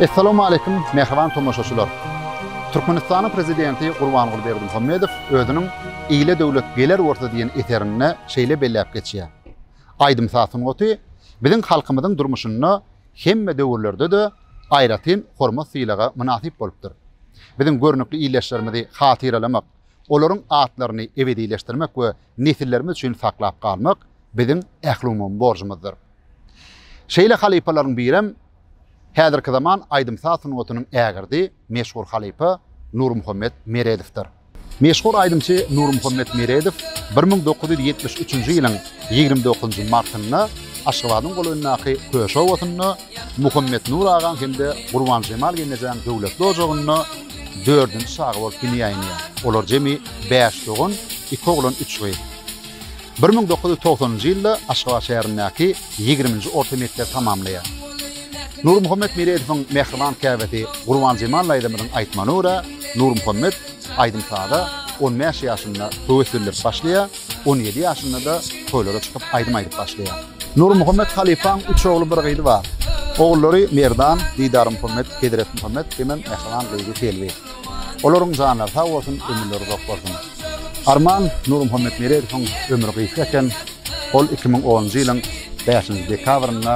Essalawmaleýkim mähriban tomaşaçylar! Türkmenistanyň Prezidenti Gurbanguly Berdimuhamedow özüniň Ile döwlet geler bolsa diýen eserinde şeýle belläp geçýär, Aýdym-saz sungaty biziň halkymyzyň durmuşynda hemme döwürlerde-de aýratyn hormat-sylaga mynasyp bolupdyr. Biziň görnükli ildeşlerimizi hatyralamak, olaryň atlaryny ebedileşdirmek we nesillerimiz üçin saklap galmak biziň ählumumy borjumyzdyr. Şeýle halypalaryň birem häzirki zaman aýdym-saz sungatynyň ägirdi, meşhur halypa Nurmuhammet Meredowdyr. Meşhur aýdymçy Nurmuhammet Meredow bir müň dokuz ýüz ýetmiş üçünji ýylyň ýigrimi dokuzynjy martynda Aşgabadyň golaýyndaky Köşe obasynda Muhammetnur agaň hem-de Gurbanjemal gelnejäň döwletli ojagynda dördünji çaga bolup dünýä inýär. Olar jemi bäş dogan, iki oglan, üç gyz. Bir müň dokuz ýüz togsanynjy ýylda Aşgabat şäherindäki ýigriminji orta mekdebi tamamlaýar. Nurmuhammet Miredowyň mähriban käbesi Gurbanjemal daýzamyzyň aýtmagyna görä, Nurmuhammet aýdym-saza on bäş ýaşynda höwes bildirip başlaýar, on ýedi ýaşynda-da toýlara çykyp aýdym aýdyp başlaýar. Nurmuhammet halypaň üç ogly bir gyzy bar. Ogullary Merdan, Didarmuhammet, Hezretmuhammet hemem mähriban gyzy Selbi. Olaryň janlary sag bolsun, ömürleri uzak bolsun. Arman Nurmuhammet Meredowyň ömri gysga eken, ol iki müň onunjy ýylyň bäşinji dekabrynda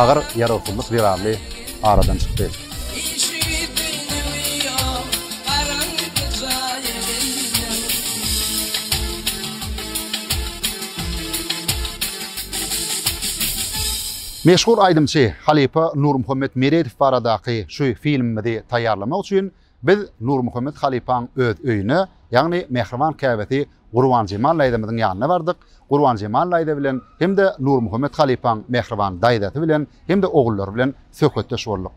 agyr ýarawsyzlyk zerarly aradan çykdy. Meşhur aýdymçy halypa Nurmuhammet Meredow baradaky şu filmimizi taýýarlamak üçin biz Nurmuhammet halypaň öz öýüne, ýagny mähriban käbesi Gurbanjemal daýzamyzyň ýanyna bardyk. Gurbanjemal daýza bilen hem-de Nurmuhammet halypaň mähriban daýzasy bilen hem-de ogullary bilen söhbetdeş bolduk.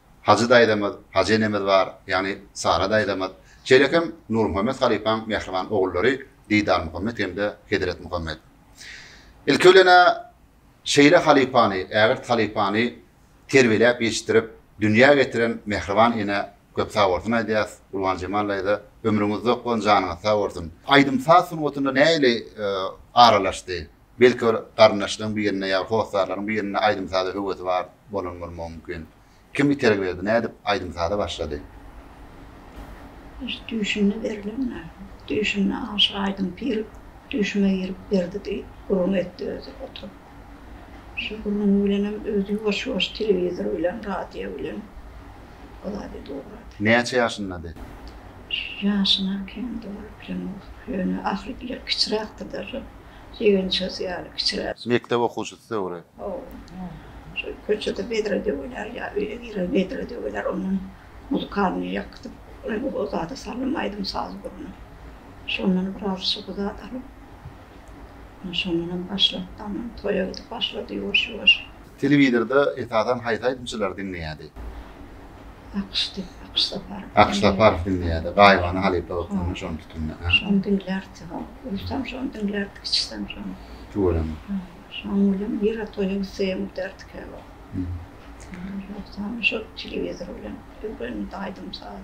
Hajy daýzamyz, Hajy enemiz bar, ýagny Sara daýzamyz. Şeýle hem Nurmuhammet halypaň mähriban ogullary Didarmuhammet hem-de Hezretmuhammet. Ilki bilen-ä şeýle halypany, ägirt halypany terbiýeläp ýetişdirip, dünýä getiren mähriban enä köp sag bolsun aýdýas. Gurbanjemal daýza, ömrüňiz uzak bolsun, janyňyz sag bolsun. Aýdym-saz sungatyna nähili aralaşdy? Belki ol garyndaşlaryň birine ýa hossarlaryň birinde aýdym-saza höwesi bar bolan bolmagy mümkin. Kim itergi berdi, nädip aýdym-saza başlady? Öz düýşünde berlen näme? Düýşünde aşa aýdym pir düýşüme girip berdi diýip gürrüň etdi özi oturyp. Şu gürrüňi bilenem özi ýuwaş-ýuwaş telewizor bilen, radio bilen o zady dogrady. Näçe ýaşyndady? Ýaşyna kemdi ol, bilemok. Ýöne ahyry bile kiçiräkdi-de. Jigim-çöz ýaly kiçiräk. Mekdep okuwçysy döwri. Oba. Köçede bedre döwüler ýa öýe girer bedre döwüler. Ondan muzykalnyý ýakdyp, o zada salym aýdym-saz gurny. Şondan biraz şuby zat alyp, şondanam başlap, toýa gidip başlady ýuwaş-ýuwaş. Telewizorda esasan haýsy aýdymçylary diňleýärdi? Akyşdy, Akyş Saparow. Akyş Saparow diňleýärdi. Gaýybana halypa bolup indi şony tutunda. Hä? Şony diňlärdi. Hop, uýsam şony diňlärdi, içsem şony. Tüweleme. Hä. Şoň bilen nirä toýa gitsegem giderdik käwagt. Ýogsam şol telewizor bilen öwrendi aýdym-sazy.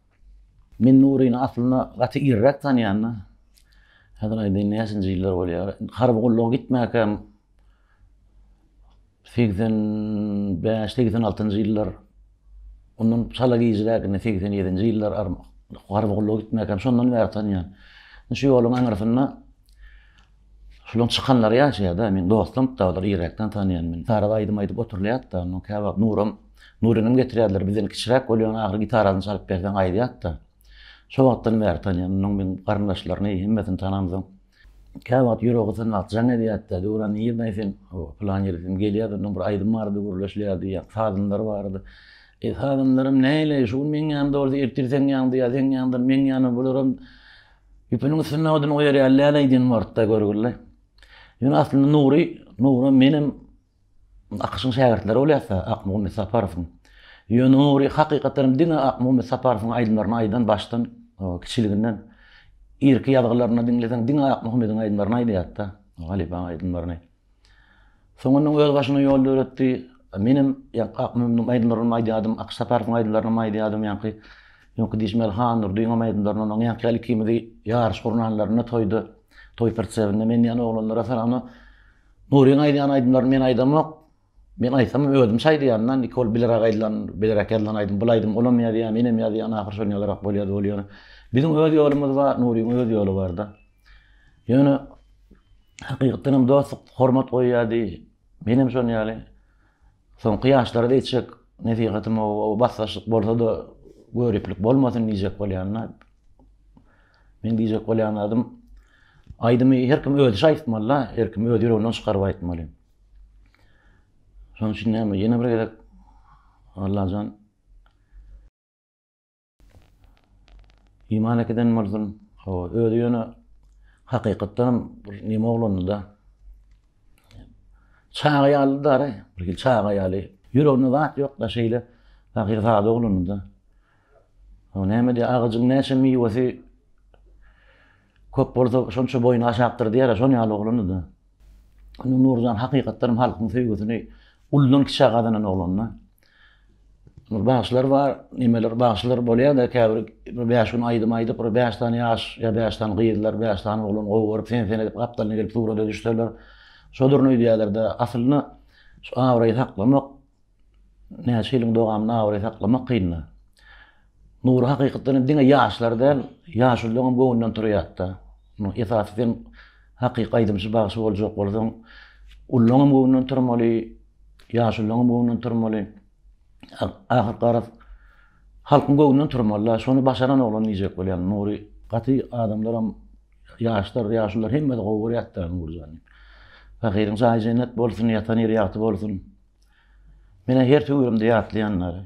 Men Nuryny aslynda gaty irräk tanýan-da. Häzir aýdaýyn näçenji ýyllar bolýar. Harby gulluga gitmäkäm segsen bäş, segsen altynjy ýyllar, ondan çala gijrägini segsen ýedinji ýyllar harby gulluga gitmäkäm şondan bäri tanýan. Şu ýoluň aňyrsynda Şolaň çykanlary ýaşaýarda, meň dostum, dagylary ýerräkden tanaýan men. Gitara aýdym aýdyp oturylýarda, ondan käwagt Nuram, Nurynym getirýärler, bizden kiçiräk bolýan ahyry gitarasyny çalyp berseň aýdýarda. Şo wagtdan bäri tanaýan, onuň meň garyndaşlaryny, hemmesini tanamsoň, käwagt ýüregi gysan wagt jaň edýärdi-de, Döwran nirdeň sen, o, pylan ýeri sen gelýärdi, ondan bir aýdym bardy, gürleşilýärdi, ýa sazynlar bardy. E, sazynlarym näleý, şu gün meň ýanymda bolsa, ertir seň ýanyňda, ýa seň ýanyňdan meň ýanyma, bularam Ýüpüniň üstünde odun goýarýar läleý diýen wagtda görgüli. Ýöne aslynda Nury, Nury menem Akyşyň şägirtleri bolýarsa Akmuhammet Saparowyň. Ýöne Nury hakykatdanam diňe Akmuhammet Saparowyň aýdymlaryny aýdan başdan kiçiliginden irki ýazgylaryny diňleseň diňe Akmuhammediň aýdymlaryny aýdýardy-da, halypaň aýdymlaryny. Soň ondan öz başyna ýol döretdi. Menem Akmyradyň aýdymlarynam aýdýardym, Akyş Saparowyň aýdymlarynam aýdýardym. Ýaňky öňki diýşmeli Han Nurdynyňam aýdymlaryndan oň ýaňky ýaly ikimizi ýaryş gurnanlarynda toýda, toý prtsebinde men diýýän oglanlara salanda Nuryň aýdýan aýdymlaryny men aýdamok. Men aýtsam özümçe aýdýan-da, indiki ol bilerak aýdylan, bilerak ýazylan aýdym. Bul aýdym olam ýazýar, menem ýazýan, ahyry şony ýazarak bolýa-da bolýa. Biziň öz ýolumyz bar, Nuryň öz ýoly bar-da. Ýöne hakykatdan hem dostluk hormat goýýardy. Men hem şonuň ýaly. Soňky ýaşlara diýjek nesihatym o, o basgaçlyk bolsa-da göriplik bolmasyn diýjek bolýan-da. Men diýjek bolýan adym aýdymy her kim özi şaýtmaly-da, her kim öz ýüreginden çykaryp aýtmaly. Şonuň üçin näme, ýene bir gezek Allajan Iman ekiden bolsun. Hawa, özi ýöne hakykatdanam bir neme oglandy-da. Çaga ýaly dary, bir hili çaga ýaly. Ýüreginde zat ýok-da, şeýle pahyr sada oglandy-da. O näme diýýär, agajyň näçe miwesi köp bolsa, şonça boýny aşakdyr diýýär-ä, şol ýaly oglandy-da. Nurjan hakykatdanam halkyň söýgüsini uludan kiçä gazanan oglandy. Bir bagşylar bar, nemeler bagşylar bolýar-da, käbir bir bäş gün aýdym aýdyp, bir bäş sany ýaş ýa bäş sany gyzlar, bäş sany oglan gowy görüp, sen-sen edip gapdalyna gelip surata düşseler, şo durna öýdýäler-de. Aslynda şu abraýy saklamak, näçe ýylyň dowamynda abraý saklamak kyn-da. Nury hakykatdan hem diňe ýaşlar däl, ýaşulylaryňam göwnünden turýarda. Munuň esasy sen hakyky aýdymçy bagşy boljak bolsaň, ullaryňam göwnünden turmaly, ýaşulylaryňam göwnünden turmaly. Ahyr garaz, halkyň göwnünden turmaly-da, şony başaran oglan diýjek bolýan Nury. Gaty adamlaram, ýaşlar, ýaşulylar hemmesi gowy görýärtda Nuryjany. Pahyryň jaýy jennet bolsun, ýatan ýeri ýagty bolsun. Menä her töwürimde ýatlaýanlary.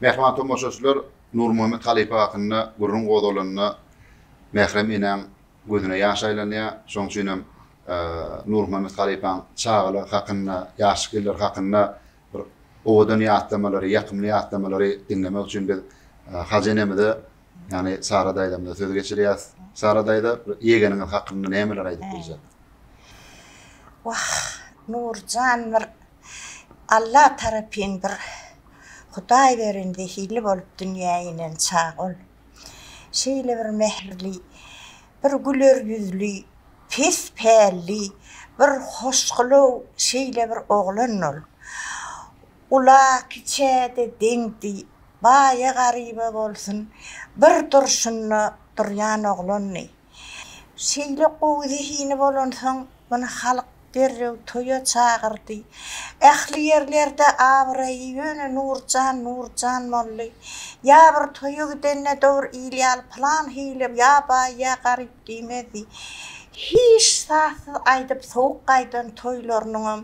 Mähriban tomaşaçylar, Nurmuhammet halypa hakynda gürrüň gozgalanda, Mährem enäň gözüne ýaş aýlanýar. Şonuň üçin hem Nurmuhammet halypaň çagalygy hakynda, ýaşlyk ýyllary hakynda Bir owadan ýatlamalary, ýakymly ýatlamalary diňlemek üçin biz Hajy enemize, ýagny Sara daýzamyza söz geçirýäs. Sara daýza, ýegeniňiz hakynda nämeler aýdyp biljek? Wah, Nurjan bir Alla tarapyn bir Hudaý beren zehili bolup dünýä inen çag ol. Şeýle bir mähirli, bir güler ýüzli, pes pälli, bir hoşgylaw şeýle bir oglandy ol. Ula-kiçä-de deňdi, baýa-garyba bolsun, bir durşunda durýan oglandy. Şeýle gowy zehini bolansoň, muny halk derrew toýa çagyrdy. Ähli ýerlerde abraýy ýöne Nurjan, Nurjan boldy. Ýa bir toýa gidende dogry il ýaly pylan hili ýa baý, ýa garyp diýmezdi. Hiç sazsyz aýdyp sowuk gaýdan toýlarynyňam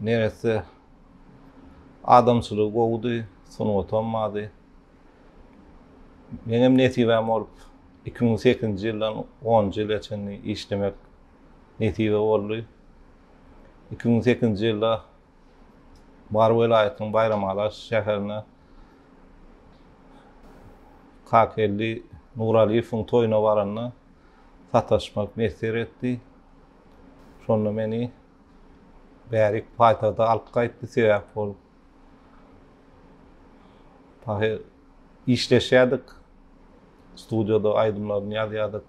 Neresse adamçylygy gowudy, sungatam bardy. Meňem nesibäm bolup, iki müň sekizinji ýyldan onunjy ýyla çenli işlemek nesibe boldy. Iki müň sekizinji ýylda Mary welaýatynyň Baýramalas şäherinde Kakageldi Nuralyýewiň toýuna baranda sataşmak miýesser etdi. Şonda meni bärik paýtagta alyp gaýtdy, sebäp ol dagy işleşýärdik, studiýada aýdymlaryny ýazýardyk,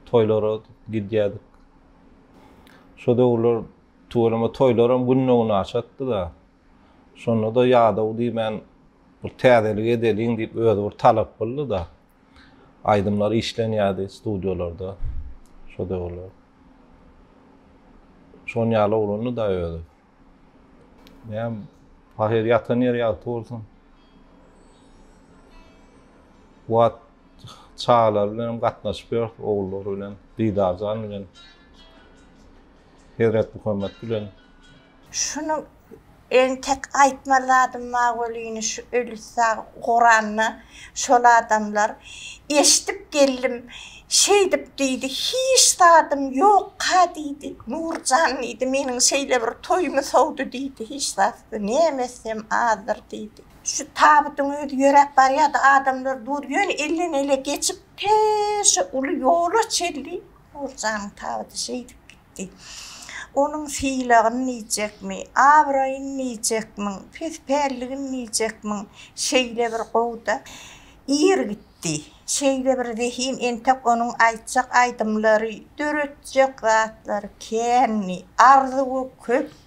toýlara gidýärdik. Şo döwürler tüweleme toýlaram günde-günaşatdy-da. Şonda-da ýadaw diýmän bir täzelik edeliň diýip özi bir talap kyldy-da. Aýdymlar işlenýärdi studiýalarda şo döwürler. Şon ýaly oglandy-da özi. Näm, Pahyr ýatan ýeri ýagty bolsun. Wagt çagalar bilen hem gatnaşyp ýörüs, ogullary bilen, Didarjan bilen, Hezret Muhammet bilen. Şuny entek aýtmaly zadym bar welin şu ölüsag goranda şol adamlar eşdip geldim şeýdip diýdi hiç zadym ýokka diýdi Nurjan diýdi meniň şeýle bir toýumy sowdy diýdi hiç zatdy näme etsem azdyr diýdi. Şu tabydyň özi ýöräp barýady adamlar dur ýöne elden ele geçip tä şu uly ýola çenli Nurjanyň tabydy şeýdip gitdi. etdi. Onuň sylagyn niýjekmi, abraýyn niýjekmiň, pis-pälligin niýjekmiň, şeýle bir gow-da, ir gitdi. Şeýle bir zehin, entek onuň aýtjak aýdymlary, döretjek zatlary kändi, arzuwy köpdi.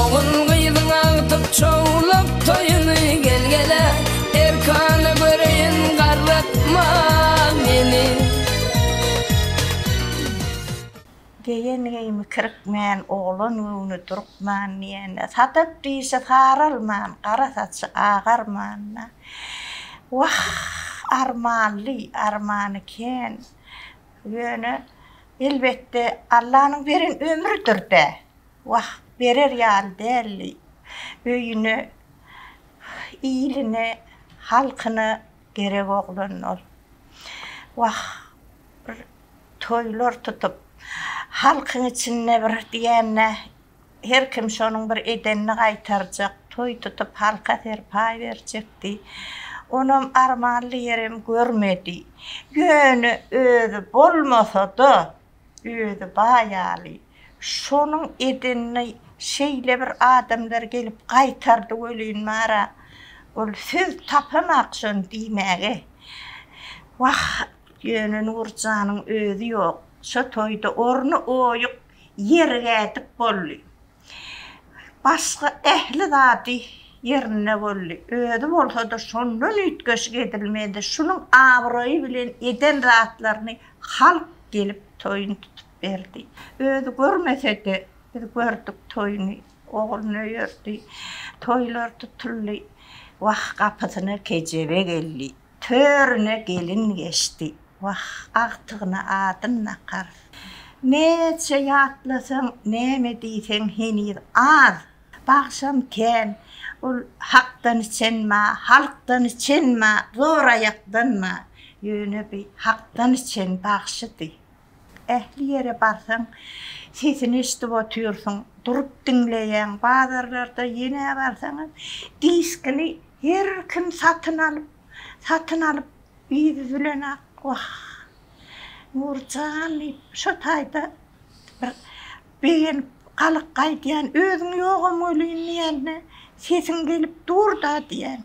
Ogul-gyzyň agtyk çowluk toýuny Gel-gele, erkana göreýin, garratma meni. Geýen geýimi kirikmän, oglan göwni durkman diýende, Sadap dişi saralman, gara saçy agarman-da, Wah, armanly, armany kän. Ýöne, elbetde, Allanyň beren ömrüdir-dä. Wah, berer ýaly däldi. Öýüne, iline, halkyna gerek oglan ol. Wah, bir toýlar tutup, halkyň içinde bir diýende, Her kim şonuň bir edenini gaýtarjak, toý tutup halka serpaý berjekdi. Onam armanly ýerem görmedi. Ýöne özi bolmasa-da, özi baý ýaly. Şonuň edenini şeýle bir adamlar gelip gaýtardy welin bar-a, ol söz tapamak şony diýmäge. Wah, ýöne Nurjanyň özi ýok. Şo toýda orny oýuk. ýerik ädip boldy. Başga ähli zady ýerinde boldy. Özi bolsa-da şondan üýtgeşik edilmedi. Şunuň abraýy bilen eden zatlaryny halk gelip toýuny tutup berdi. Özi görmese-de, biz gördük toýuny. Ogluny öýerdi. Toýlar tutuldy. Wah, gapysyna kejebe geldi. Törüne gelin geçdi, wah, agtygyna adyn nakar. Näçe ýatlasaň, näme diýseň heniz az. Bagşam kän, ol hakdan içenma, halkdan içenma, zor aýakdanma, ýöne bi hakdan içen bagşydy. Ähli ýere barsaň, sesini eşidip otyrsyň, durup diňleýäň. Bazarlarda ýene barsaň hem diskini her kim satyn alyp, satyn alyp yzy zülenok. Wah, Nurjan diýip, şo taýda bir begenip galyk gaýdýan. Özüň ýogam welin diýende, sesiň gelip dur-da diýen.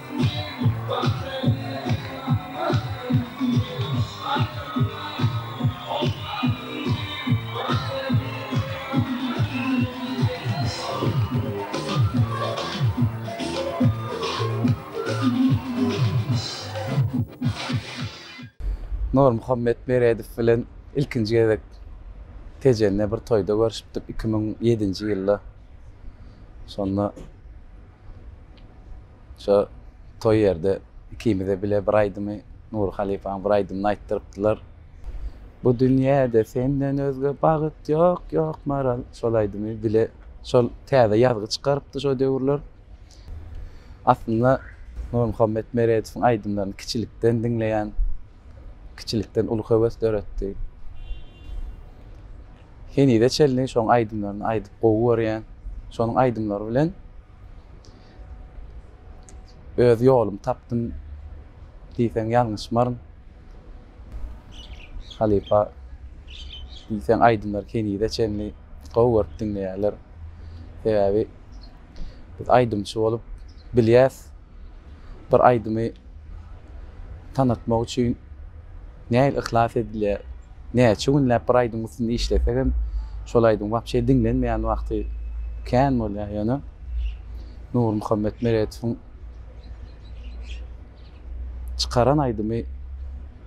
Nurmuhammet Meredow bilen ilkinji gezek Tejende bir toýda görşüpdik, iki müň ýedinji ýylda. Şonda Şo toý ýerde ikimize bile bir aýdymy, Nury halypaň bir aýdymyny aýtdyrypdylar. Bu dünýäde senden özge bagyt ýok, ýok Maral. Şol aýdymy bile şol täze ýazgy çykarypdy şo döwürler. Aslynda Nurmuhammet Meredowyň aýdymlaryny kiçilikden diňleýän. kiçilikden uly höwes döretdi. Henize çenli şoň aýdymlaryny aýdyp gowy görýän. Şonuň aýdymlary bilen öz ýolumy tapdym diýseň ýalňyşmaryn. Halypa diýseň aýdymlary henize çenli gowy görüp diňleýärler. Sebäbi Biz aýdymçy bolup bilýäs. Bir aýdymy tanatmak üçin nähili yhlas edilýär. Näçe günläp bir aýdymyň üstünde işlesegem şol aýdym wapşe diňlenmeýän wagty kän bolýar. Ýöne Nurmuhammet Meretowyň çykaran aýdymy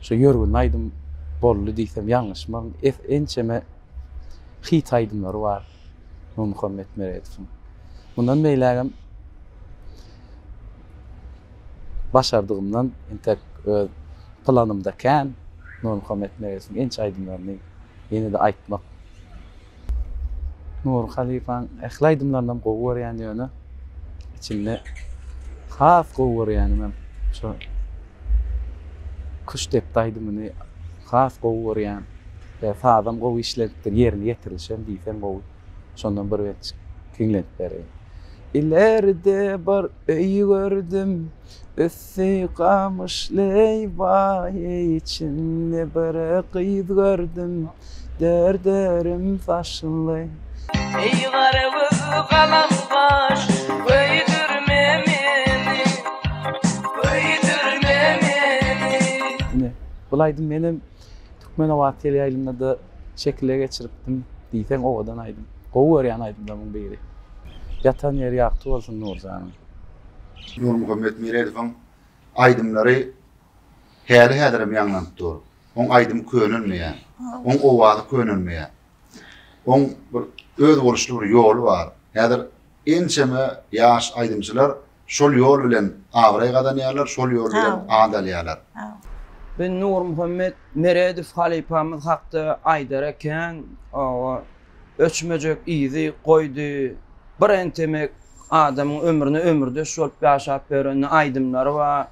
şo ýörgünli aýdym boldy diýsem ýalňyşmaryn. Ençeme hit aýdymlary bar. Nurmuhammet Meredowyň. Mundan beýlägem başardygymdan entek öz planymda kän Nurmuhammet Meredowyň inçe aýdymlaryny ýene-de aýtmak. Nury halypaň ähli aýdymlarynam gowy görýän ýöne içinde has gowy görýänimem şo Küştdepdi aýdymyny has gowy görýän. Sazam gowy işlenipdir, ýerine ýetirilişem diýseň gowy. Şondan bir bet giňlenip bereýin. Ilerde bir öý gördüm, üsti gamyşly, waý, içinde bir gyz gördüm, dört örüm saçly. Eý gara göz galam gaş, köýdürme meni, köýdürme meni. Ine, bulaýdym menem. Türkmenobat teleýaýlymda-da şekile geçiripdim diýseň owadan aýdym. Gowy görýän aýdymlarymyň biri. Ýatan ýeri ýagty bolsun Nurjanyň. Nurmuhammet Meredowyň aýdymlary häli-häzirem ýaňlanyp dur. Oň aýdymy könelmeýär. Oň owazy könelmeýär. Oň bir özboluşly bir ýoly bar. Häzir Ençeme ýaş aýdymçylar şol ýol bilen abraý gazanýarlar, şol ýol bilen at alýarlar. Biz Nurmuhammet Meredow halypamyz hakda aýdar ekän, oba öçmejek yzy goýdy. Bir entemek adamyň ömrüne ömürdeş bolup ýaşap ýören aýdymlary bar.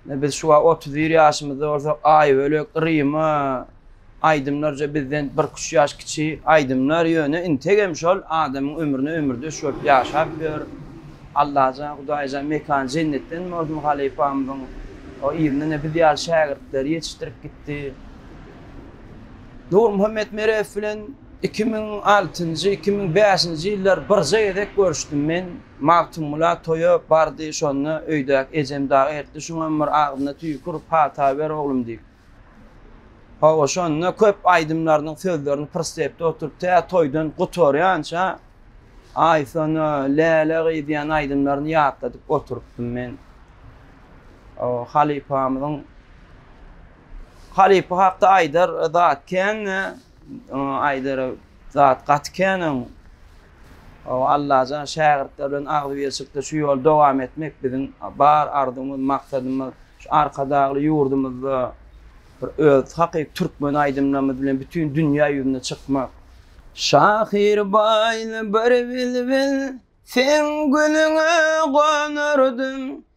Biz şu wagt otuz bir ýaşymyzda bolsak, Aýbölek, Ryma aýdymlarja bizden birküç ýaş kiçi aýdymlar, ýöne integem şol adamyň ömrüne ömürdeş bolup ýaşap ýör. Allajan, Hudaýjan mekany jennetden bolsun halypamyzyň. O yzyndan-a biz ýaly şägirtleri ýetişdirip gitdi. Nurmuhammet Meredow bilen Iki müň altynjy, iki müň bäşinji ýyllar birje gezek görüşdim men. Magtymgula toýa bardy, şonda öýdäki ejem dagy ertdi, şuňam bir agzyna tüýki urup hata ber oglum diýip. Hawa, şonda köp aýdymlarynyň sözlerini prstepde oturyp tä toýdan gutarýança Aýsona, Läle gyz diýen aýdymlaryny ýatladyp oturypdym men. Hawa, halypamyzyň halypa hakda aýdar zat kän-de. Aýdara zat gaty kän oň. Hawa Allajan şägirtler bilen agzybirçilikde şu ýoly dowam etmek biziň bar arzumyz, maksadymyz. Şu Arkadagly ýurdumyzda bir öz hakyky türkmen aýdymlarymyz bilen bütin dünýä ýüzüne çykmak. Şahyr baýly bir bilbil, seň gülüňe gonardym.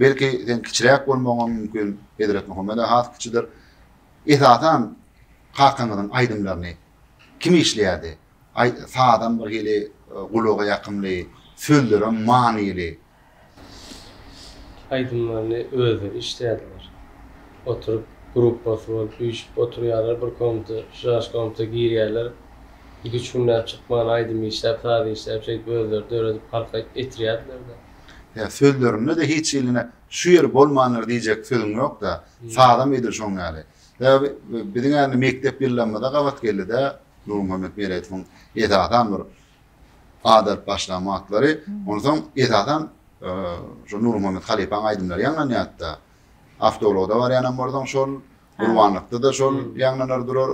Belki seň kiçiräk bolmagyňam mümkin, Hezretmuhammeda has kiçidir. Esasan kakaňyzyň aýdymlaryny kim işleýärdi? Sazam bir hili gulaga ýakymly, sözlerem manyly. Aýdymlaryny özleri işleýärdiler. Oturyp gruppasy bolup üýşüp oturýarlar bir komnata, şaş komnata girýärler. Iki-üç günläp çykman aýdym işläp, saz işläp şeýdip özleri döredip halka etirýärdiler-de. Ýa sözlerinde-de hiç iline şu ýeri bolmandyr diýjek sözüň ýok-da. Sazam edil şoň ýaly. Sebäbi biziň indi mekdep ýyllarymyza gabat geldi-de Nurmuhammet Meredowyň esasan bir at alyp başlan wagtlary. Onsoň esasan şu Nurmuhammet halypaň aýdymlary ýaňlanýardy-da. Awtoulagda barýanam bolsaň şol, gurbanlykda-da şol ýaňlanar durar,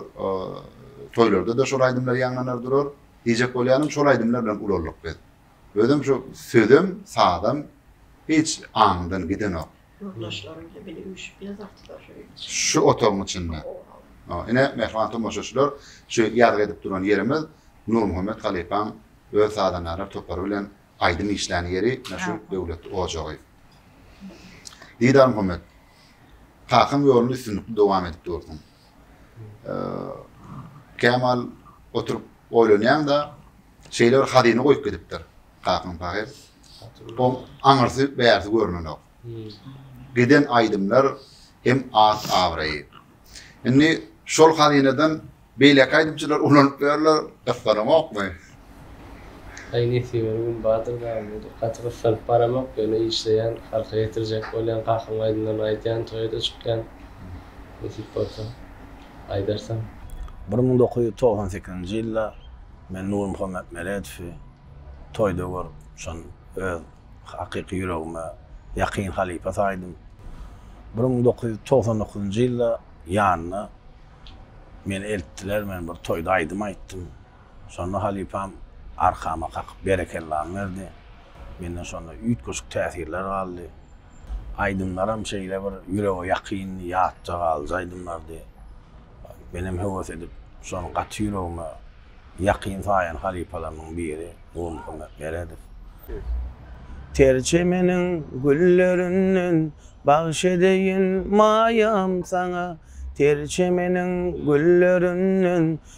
toýlarda-da şol aýdymlar ýaňlanar durar. Diýjek bolýanym şol aýdymlar bilen ulaldyk biz. Özem şu sözem, sazam hiç aňymdan gidenok. Yurdaşlarym hem indi üýşüp ýazardylar şu öýüň içinde. Şu otagyň içinde. Hawa. Ine, mähriban tomaşaçylar, şu ýazgy edip duran ýerimiz Nurmuhammet halypaň öz sazandalar topary bilen aýdym işlän ýeri, ine şu döwletli ojagy. Didar Muhammet, kakam ýoluny üstünlikli dowam edip dursun. Kämal oturyp oýlanýaň-da, şeýle bir hazyna goýup gidipdir. Kakam pahyr. Oň aňyrsy, bärsi görnenok. Giden aýdymlar hem at-abraýy. Indi şol hazynadan beýleki aýdymçylar ulanyp ýörler, gyssanokmy? Aý nesibe gün bardyr dagy budur gaty gyssanyp baramok ýöne işleýän halka ýetirjek bolýan kakyň aýdymlaryny aýdýan toýada çykýan nesip bolsa aýdarsyň. Bir müň dokuz ýüz togsan sekizinji ýylda men Nurmuhammet Meredowy toýda görüp şon öz hakyky ýüregime ýakyn halypa saýdym. Bir müň dokuz ýüz togsan dokuzynjy ýylda ýanyna meni eltdiler men bir toýda aýdym aýtdym. Şonda halypam arkama kakyp berekellany berdi. Menden şonda üýtgeşik täsirler galdy. Aýdymlaram şeýle bir ýürege ýakyndy, ýatda galyjy aýdymlardy. Menem höwes edip şony gaty ýüregime ýakyn saýan halypalarymyň biri Gulmyhammet Meredow. Ter çemeniň güllerinden bagş edeýin maýam saňa, Ter çemeniň güllerinden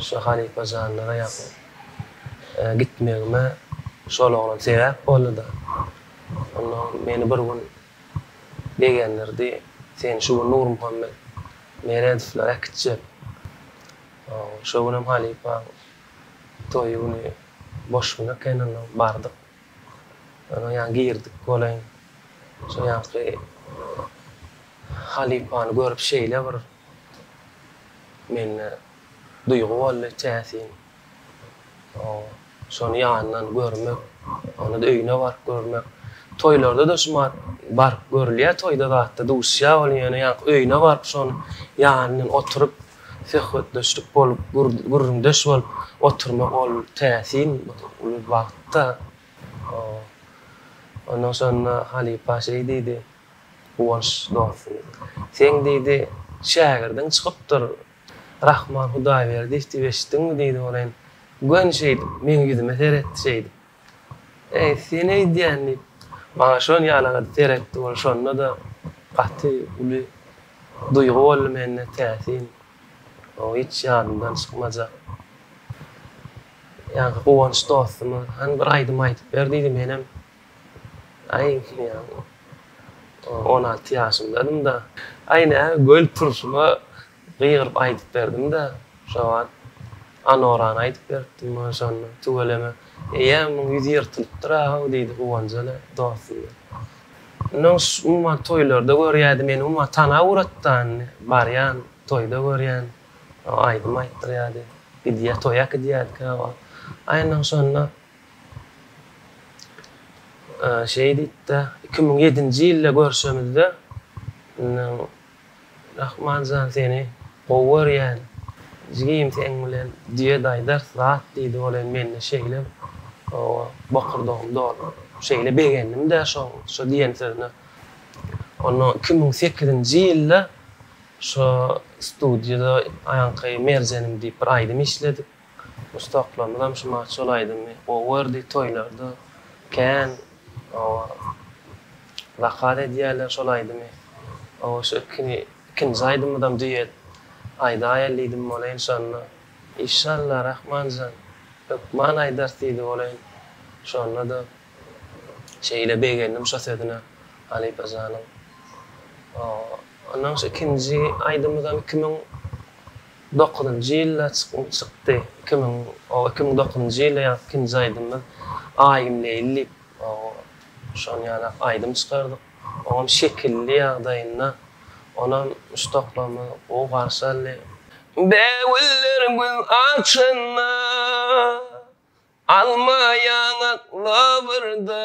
Şo halypa janlara ýakyn. Gitmegime şol oglan sebäp boldy-da. Onnoň meni bir gün begendirdi, Sen şu gün Nurmuhammet Meredowlara äkitjek. Şo günem halypaň toýy güni boş gün eken, onnoň bardyk. Onuň ýanyna girdik welaýyn. Şo ýaňky halypany görüp şeýle bir Mende duýgy boldy täsin. Oň şony ýandan görmek, ony öýüne baryp görmek. Toýlarda-da şumat baryp görülýär toýda zatda duşýar ol ýöne ýaňky öýüne baryp şony ýanyndan oturyp söhbetdeşlik bolup gürrüňdeş bolup oturmak ol täsin uly bagtda. Ondan şonda halypa şeý diýdi. Guwanç dostum. Seň diýdi, şägirdiň çykypdyr. Rahman Hudaýberdiýew diýip eşitdiňmi diýdi welin, göni şeýdip, meň ýüzüme seretdi şeýdip. Eý, sen eýdýän diýip, maňa şol ýalagada seretdi welin, şonda-da gaty uly duýgy boldy mende, täsin. O hiç ýadymdan çykmajak. Ýaňky Guwanç dostuma, hany bir aýdym aýdyp ber diýdi, menem. Aý, ýa-da on alty ýaşymdadym-da. Aý, nä, göýl turşuma gygyryp aýdyp berdim-dä. Şo wagt Anorany aýdyp beripdim maňa şonda. Tüweleme. Eý-ä, muň ýüzi ýyrtylypdyr-a-how, diýdi Guwanjana dostuna. Indi oň umuman toýlarda görýädi meni, umuman tana ugrady-da indi. Barýan, toýda görýän, aýdym aýtdyrýady. Gidýä, toýa gidýädi käwagt. Aý, indi oň şonda Şeý diýipdi, iki müň ýedinji ýylda görşemizde, Rahman jan seni gowy görýän, jigim seň bilen duet aýdars zat diýdi, ol hem mende şeýle bokurdagym doldy, şeýle begendim-de şoň şo diýen sözüne. Onnoň iki müň sekizinji ýylda şo studiýada Aýanky Merjenim diýip bir aýdym işledik. Ussaklarymyzam şuma şol aýdymy gowy gördi, toýlarda kän zakaz edýärler şol aýdymy. Oba şu ikini ikinji aýdymydam duet aýdaýaly diýdim bolay enşalla. Işalla Rahmanjan hökman aýdarys diýdi bolaýyn. Şonda-da şeýle begendim şo sözüne halypa janyň. Ondan şu ikinji aýdymyzam iki müň Dokuzynjy ýylda çykym çykdy. Iki müň, o iki müň dokuzynjy ýylda ýaňky ikinji aýdymymyz Aýym Leýli diýip, o şony ýalak aýdym çykardyk. Oňam şekilli ýagdaýynda. Onam üç toplamy gowy garşy aldy. Bägüller gül açanda, Alma ýaňak lawyrda.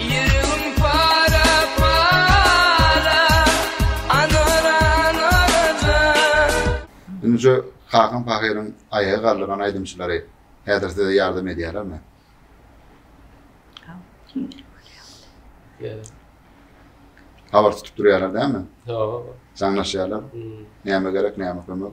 Ýüregim para para Anora Anora jan. Ünje Hakan Pahyryň aýaga galdyran aýdymçylary häzir size ýardam edýärlermi? Ýa. Habar tutup durýarlar dälmi? Ýa. Jaňlaşýarlar. Näme gerek, näme kömek?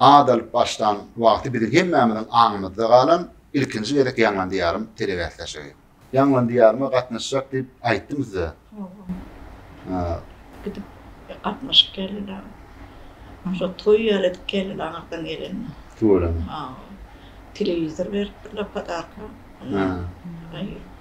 At alyp başlan wagty biziň hemmämiziň aňymyzda galan ilkinji gezek Ýaňlan Diýarym telebäsleşigi. Ýaňlan Diýaryma gatnaşjak diýip aýtdym size. Hawa. Gidip gatnaşyp geldik aň. Şol toý ýaly edip geldik aň arkadan gelende. Tüweleme. Hawa. Telewizor beripdirler podarka. Hawa.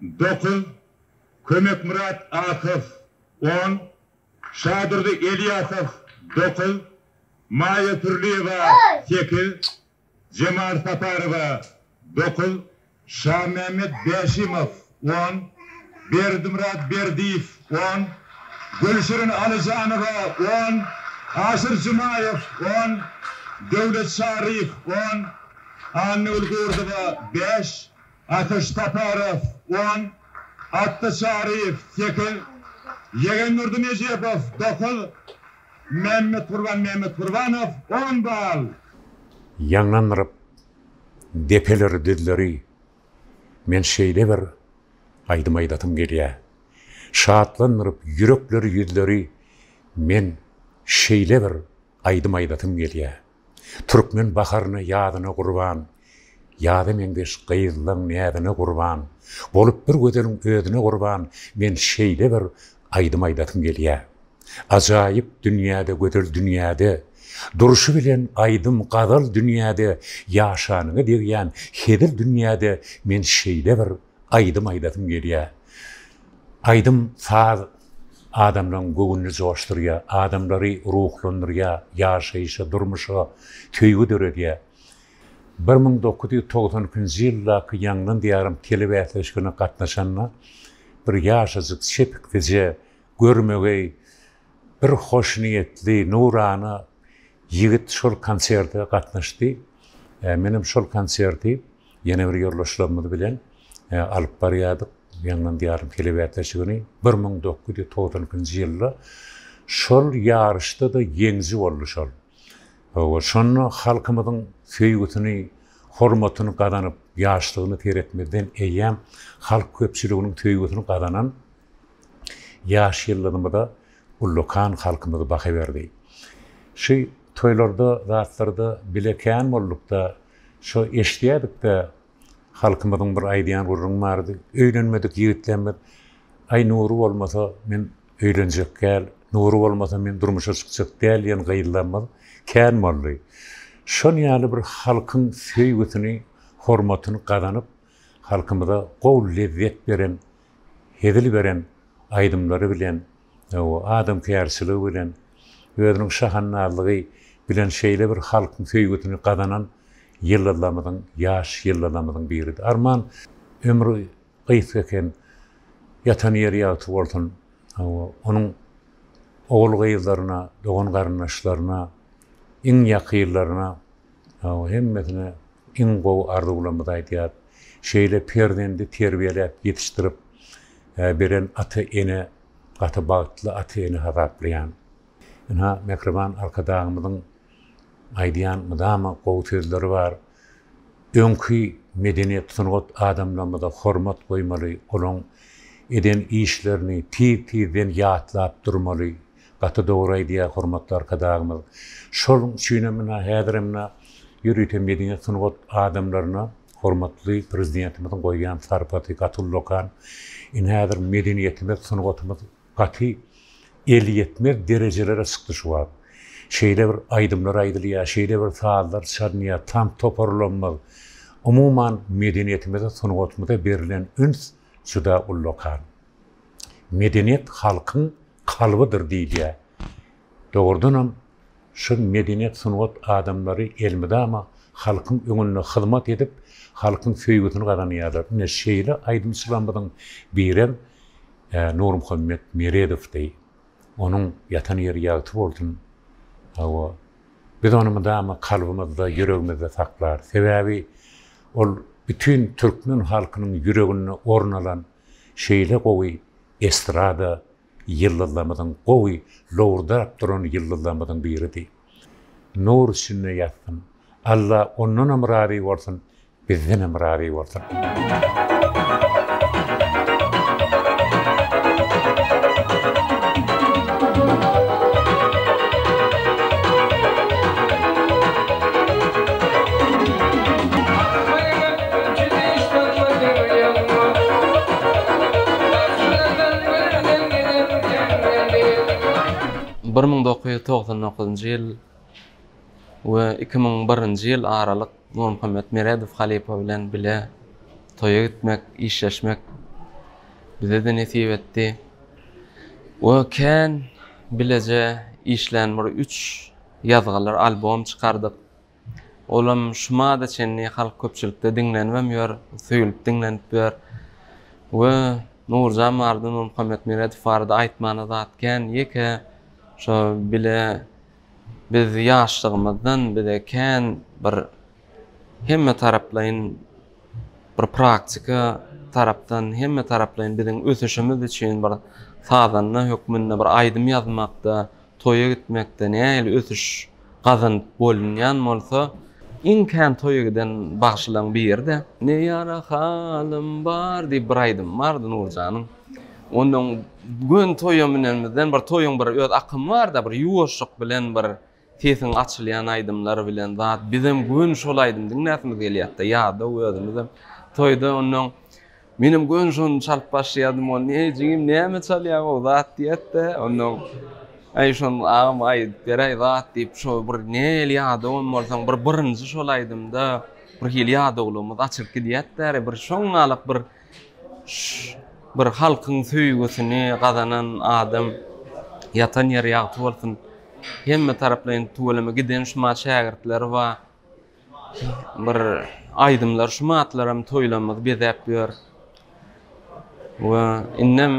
dokuz, Kömekmyrat Asow, on, Şadurdy Elýasow, dokuz, Maýa Pürliýewa, sekiz, Jemal Saparowa, dokuz, Şamämmet Bäşimow, on, Berdimyrat Berdiýew, on, Gülşirin Alyjanowa, on, Aşyr Jumaýew, on, Döwlet Şaryýew, on, Annagül Gurdowa, bäş, Ateş Saparow, on, Atda Çaryýew, sekiz, Ýegendurdy Nejepow, dokuz, Mämmetgurban Mämmetgurbanow, on bal. Ýaňlandyryp depeleri düzleri Men şeýle bir aýdym aýdasym gelýä Şatlandyryp ýürekleri ýüzleri Men şeýle bir aýdym aýdasym gelýä. Türkmen baharyna, ýazyna gurban, Ýaza meňzeş gyzlaň näzine gurban, Bolup bir gözeliň özüne gurban, Men şeýle bir aýdym aýdasym gelýä. Ajaýyp dünýäde, gözel dünýäde, Durşy bilen aýdym, gazal dünýäde, Ýaşanyňa degýän hezil dünýäde, Men şeýle bir aýdym aýdasym gelýä. Aýdym, saz. adamlaryň göwnüni joşdurýar, adamlary ruhlandyrýar, ýaşaýşa, durmuşa söýgi döredýär. Bir müň dokuz ýüz togsan ikinji ýyldaky Ýangyn diýarym telebäsleşigine gatnaşanda bir ýaşajyk çepiksije, görmegeý, bir hoşniýetli, nurana ýigit şol konserte gatnaşdy. Menem şol konserti Ýene bir ýoldaşlarymyz bilen alyp barýardyk. Ýaňlan diýarym telewätlejigini. Bir müň dokuz ýüz togsan ikinji ýylda şol ýaryşda-da ýeňiji boldy şol. Hawa, şonda halkymyzyň söýgüsini, hormatyny gazanyp, ýaşlygyna seretmezden eýýäm halk köpçüliginiň söýgüsini gazanan ýaş ýyllarymyza ullakan halkymyz baha berdi. Şu toýlarda, zatlarda bile kän bolduk-da, şo eşidýädik-de, halkymyzyň bir aýdýan gürrüňi bardy, Öýlenmedik ýigitlemmiz, Aý, nury bolmasa, men öýlenjek däl, nury bolmasa, men durmuşa çykjak däl diýen gyzlarymyz kän boldy. Şol ýaly bir halkyň söýgüsini, hormatyny gazanyp, halkymyza gowy lezzet beren hezil beren aýdymlary bilen, adamkärçiligi bilen, özüniň şahandazlygy bilen şeýle bir halkyň söýgüsini gazanan ýyldyzlarymyzyň, ýaş ýyldyzlarymyzyň biridi. Arman, ömri gysga eken, ýatan ýeri ýagty bolsun. Hawa, onuň ogul-gyzlaryna, dogan-garyndaşlaryna, iň ýakynlaryna. Hawa hemmesine iň gowy arzuwlarymyzy aýdýas. Şeýle perzendi terbiýeläp ýetişdirip beren ata ene gaty bagtly ata ene hasaplaýan. Ynha mähriban arkadagymyzyň aýdýan mydama gowy sözleri bar. Öňki medeniýet sungat adamlarymyza hormat goýmaly olaň eden işlerini tiz tizden ýatlap durmaly. Gaty dogry aýdýar hormatly arkadagymyz. Şol üçinem mundan häzirem mundan ýörite medeniýet sungat adamlaryna hormatly prezidentimiziň goýýan sarpasy gaty ullakan. Indi häzir medeniýetimiz, sungatymyz gaty elýetmez derejelere çykdy şu wagt. Şeýle bir aýdymlar aýdylýar, şeýle bir sazlar çalynýar, tans toparlamyz, umuman medeniýetimize, sungatymyza berlen üns juda ullakan. Medeniýet halkyň kalbydyr diýilýär. Dogrudanam, şu medeniýet-sungat adamlary elmydama halkyň öňünde hyzmat edip, halkyň söýgüsini gazanýarlar. Ine, şeýle aýdymçylarymyzyň birem Nurmuhammet Meredowdy. Onuň ýatan ýeri ýagty bolsun. Hawa, biz ony mydama kalbymyzda, ýüregimizde saklarys. Sebäbi ol bütin türkmen halkynyň ýüreginde orun alan, Şeýle gowy estrada ýyldyzlarymyzyň gowy lowurdap duran ýyldyzlarymyzyň biridi. Nur içinde ýatsyn. Alla ondanam razy bolsun, bizdenem razy bolsun. Bir müň dokuz ýüz togsan dokuzynjy ýyl we iki müň birinji ýyl aralyk Nurmuhammet Meredow halypa bilen bile toýa gitmek, işleşmek bize-de nesip etdi we kän bileje işlän bir üç ýazgylar, albom çykardyk. Olam şumada çenli halk köpçülikde diňlenibem ýör, söýülip diňlenip ýör. We Nurjan barada, Nurmuhammetmeredow barada aýtmana zat kän. Ýeke şo bile biz ýaşlygymyzdan bize kän bir hemmetaraplaýyn bir praktika tarapdan hemme taraplaýyn biziň ösüşimiz üçin bir sazanda hökmünde bir aýdym ýazmakda, toýa gitmekde nähili ösüş gazanyp bolunýan bolsa, iň kän toýa giden bagşylaryň biri-de Ne ýara halym bar diýip bir aýdymy bardy Nurjanyň. Ondan göni toýa münenimizden bir toýuň bir öz akymy bar-da, bir ýuwaşlyk bilen bir Sesiň açylýan aýdymlar bilen zat bizem gün şol aýdym diňläsimiz gelýätda ýadaw özümizem toýda onnoň menem gün şony çalyp başlaýadym ony eý jigim näme çalýaň gowy zat diýätde onnoň aý şon agam aýdyp beräý zat diýip şo bir nähili ýadawam bolsaň bir birinji şol aýdymda birhili ýadawlygymyz açylyp gidýätdä bir şoňňalak bir bir halkyň söýgüsini gazanan adam ýatan ýeri ýagty bolsun hemme taraplaýyn tüweleme giden şuma şägirtleri bar bir aýdymlar şuma atlaram toýlarymyzy bezäp ýör we indem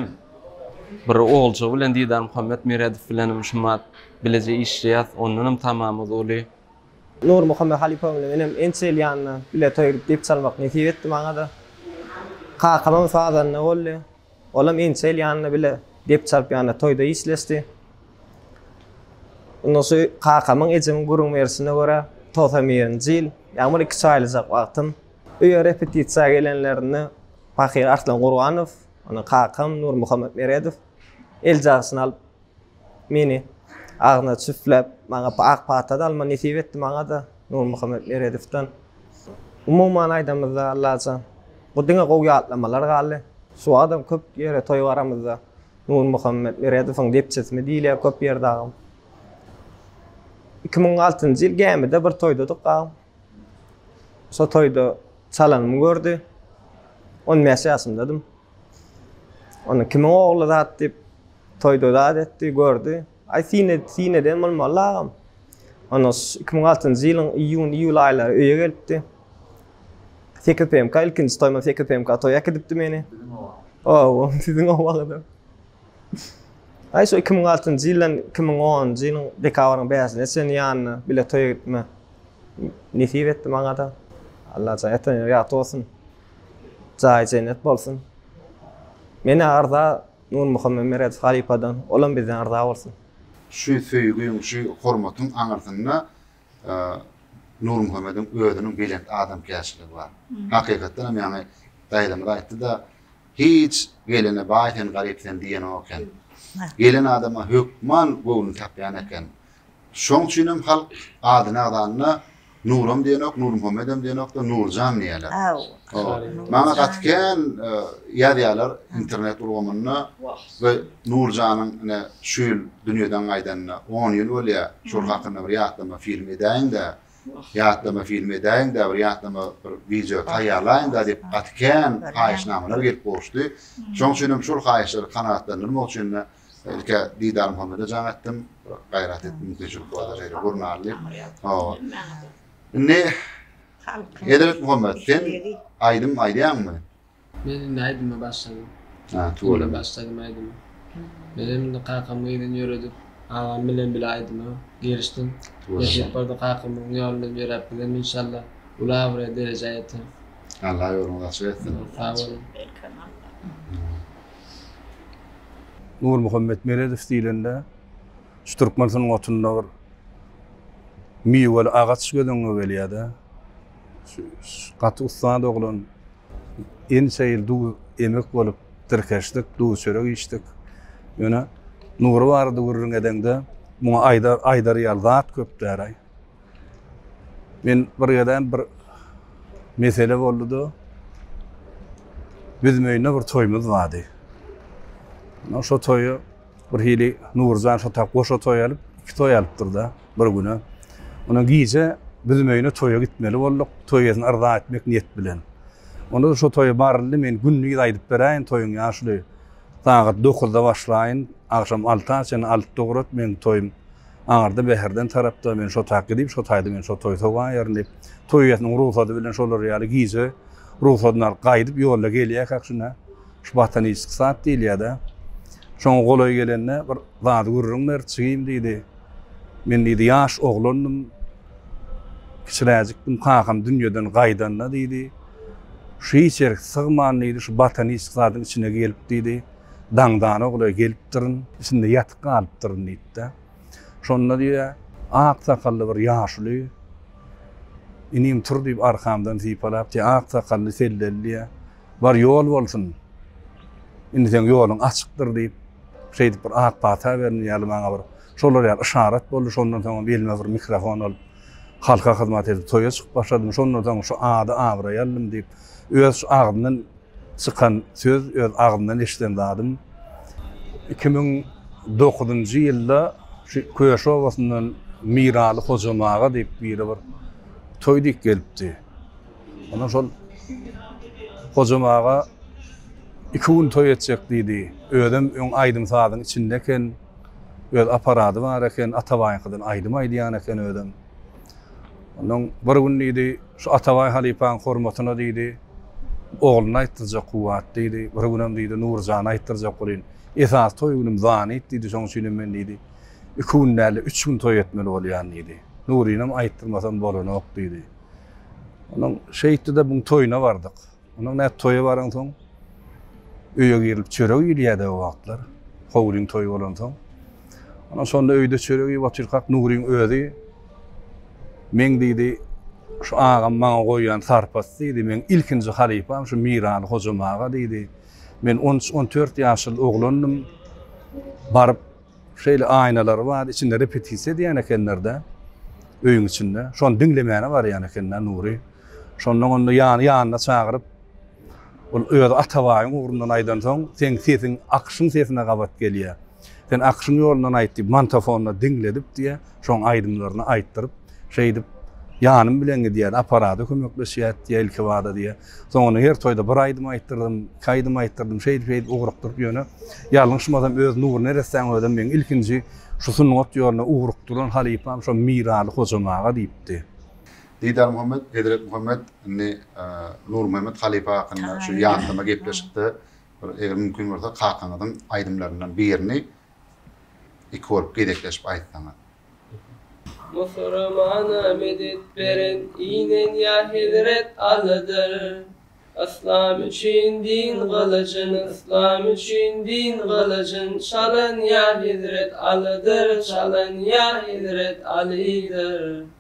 bir olja bilen didar muhammet meredow bilenem şuma bileje işleýäs ondanam tamamyz uly. Nurmuhammet halypamyzyň inem ençeýli ýanyna bile toý edip dep çalmak nesip etdi maňa-da. Kakamam sazanda boldy. Olam ençeýli ýanyna bile dep çalyp ýanyna toýda işleşdi. Indi şu kakamyň ejemiň gürrüň berişine görä, togsan birinji ýyl, ýagny bir iki çaýlyjak wagtym, öýe repetisiýa gelenlerinde pahyr Arslan Gurbanow, ony kakam Nurmuhammet Meredow eljagşyny alyp, Meni agzyna çüfläp, maňa ak pata-da alma nesip etdi, maňa-da Nurmuhammet Meredowdan. Umuman aýdamyzda, Allajan, bu diňe gowy ýatlamalar galdy. Şu wagtam köp ýere toý baramyzda, Nurmuhammet Meredowyň depçesimi diýilýär köp ýerde agam. Iki müň altynjy ýyl gämide bir toýdadyk agam. Şo toýda çalanymy gördi. On bäş ýaşymdadym. Onda kimiň ogly zat diýip, toýda zat etdi, gördi. Aý, sine, sineden bolmaly agam. Onda iki müň altynjy ýylyň iýun, iýul aýlary öýe gelipdi. Sekiz PMK, ilkinji toýuma sekiz PMK toýa äkidipdi meni. Oba, siziň obagada. Aý, şo iki müň altynjy ýyldan iki müň onunjy ýylyň dekabryň bäşine çenli ýanyna bile toýa gitme Nesip etdi maňada. Allajan ýatan ýat bolsun. Jaýy jennet bolsun. Menä arza Nurmuhammet Meredow halypadan, olam bizden arza bolsun. Şu söýgiň, şu hormatyň aňyrsynda Nurmuhammediň özüniň belent adamkärçiligi bar. Hakykatdan hem ýaňy daýzamyz aýtdy-da, Hiç gelene baý sen garyp sen diýenok eken. Gelen adama hökman göwün tapýan eken. Şoň üçinem halk adyny agzanda Nuram diýenok, Nurmuhammedem diýenok-da, Nurjan diýýärler. Aw. Maňa gaty kän ýazýarlar internet ulgamynda we Nurjanyň ine şu ýyl dünýeden gaýdanyna on ýyl bolýar. Şol hakynda bir ýatlama film edäýiň-dä, ýatlama film edäýiň-dä, bir ýatlama bir wideo taýýarlaýyň-da diýip gaty kän haýyşnamalar gelip gowuşdy. Şoň üçinem şol haýyşlary kanagatlandyrmak üçin-de Ilki Didar Muhammede jaň etdim. Gaýrat etdim, teşekkür bar şeýle gurnarly. Hawa. Indi Hezret Muhammed, sen aýdym aýdýaňmy? Men indi aýdyma başladym. Ha, tuweleme. Başladym aýdyma. Men hem indi kakam gyzyny ýöredip, agam bilen bile aýdyma girişdim. Nesip bolsa kakamyň ýoly bilen ýöräp gidem inşallah. Uly abraýa, derejä ýeterin. Allah ýoluňyzy açyk etsin. Sag boluň. Nurmuhammet Meredow diýlende, şu türkmen sungatynda bir miweli agaç göz öňüňe gelýär-de. Gaty ussat oglan. Ençe ýyl duw emek bolup, tirkeşdik, duw-çörek içdik. Ýöne Nury barada gürrüň edeňde, muňa aýdar ýaly zat köp däl-aý. Men bir gezem bir mesele boldy-da, biz öýünde bir toýumuz bardy. Ondan şo toýa bir hili Nurjan şo tak goşa toý alyp, iki toý alypdyr-da bir güne. Ondan gije biz öýüne toýa gitmeli bolduk, toý eýesini yrza etmek niýet bilen. Onda şo toýa baryldy, men gündiz aýdyp beräýin toýuň ýaşuly sagat dokuzda başlaýyn, agşam alta çenli alyp dograt meň toýum. Aňyrda Bäherden tarapda men şo taýy diýip, şo taýda men şo toýy sowaýaryn diýip, toý eýesiniň rugsady bilen şolar ýaly gije rugsadyny alyp gaýdyp ýolda gelýärkäk şunda şu Bataniçki sad diýilýär-de. Şoňa golaý gelende bir zady gürrüň berdi, Jigim diýdi, men diýdi ýaş oglandym, kiçiräjikdim, kakam dünýeden gaýdanda diýdi, şu hiç ýerik sygman diýdi, şu Bataniçki zadyň içine gelip diýdi, Daňdan ogly gelipdirin, içinde ýatyp galypdyryn diýipdir. Şonda diýýär, ak sakally bir ýaşuly, Inim tur diýip arkamdan sypalap diýýär, ak sakally selleli diýýär, Bar ýol bolsun, indi seň ýoluň açykdyr diýip, şeýdip bir ak pata berdi ýaly maňa bir şolar ýaly yşarat boldy. Şondan soň hem elime bir mikrofon alyp, halka hyzmat edip toýa çykyp başladym. Şondan soň şu ady-abraý aldym diýip, öz şu agzyndan Çykan söz öz agzymdan eşiden zadym. Iki müň dokuzynjy ýylda şu Köşi obasyndan Miraly Hojam aga diýip biri bir toý diýip gelipdi. Ondan şol Hojam aga iki gün toý etjek diýdi. Özem öň aýdym-sazyň içinde eken. Öz aparady bar eken, Atabaýyňkydan aýdym aýdýan eken özem. Ondan bir gün diýdi, Şu Atabaý halypaň hormatyna diýdi, ogluna aýtdyrjak kuwwat diýdi, bir günem diýdi, Nurjana aýtdyrjak bolyn. Esasy toý günüm zanit diýdi, şoň üçinem men diýdi, iki gün däl-de, üç gün toý etmeli bolýan diýdi. Nurynyam aýtdyrmasam bolanok diýdi. Ondan şeýtdi-de, muň toýuna bardyk. Onuň nädip toýa baransoň, öýe girilip çörek iýilýärdi o wagtlar. Howlyň toýy bolansoň. Ondan şonda öýde çörek iýip otyrkak Nuryň özi Men diýdi, şu agam maňa goýan sarpasy diýdi, meň ilkinji halypam şu Miraly Hojam aga diýdi. Men on üç, on dört ýaşyl oglandym. Baryp Şeýle aýnalary bar, içinde repetisiýa edýän ekenler-de, öýüň içinde. Şony diňlemäne barýan eken-de Nury. Şondan onda ýany ýanyna çagyryp, ol özi Atabaýyň ugrundan aýdansoň, seň sesiň Akyşyň sesine gabat gelýär. Sen Akyşyň ýolundan aýt diýip, mantafonda diňledip diýýär. Şoň aýdymlaryny aýtdyryp, şeýdip, ýanym bilen gidýär, aparada kömekleşýär diýýär ilkibada diýýär. Soňundan her toýda bir aýdym aýtdyrdym, iki aýdym aýtdyrdym, şeýdip-şeýdip ugrukdyryp ýöne ýalňyşmasam öz Nury neressäň özem meň ilkinji şu sungat ýoluna ugrukdyran halypam şo Miraly Hojam aga diýipdi. Didarmuhammet, Hezretmuhammet indi Nurmuhammet halypa hakynda şu ýatlama gepleşikde bir eger mümkin bolsa kakaňyzyň aýdymlaryndan birini Iki bolup gezekleşip aýtsaňyz. Musurmana medet beren inen ýa hezret Alydyr Yslam üçin din gylyjyn Yslam üçin din gylyjyn Çalan ýa hezret Alydyr Çalan ýa hezret Alydyr.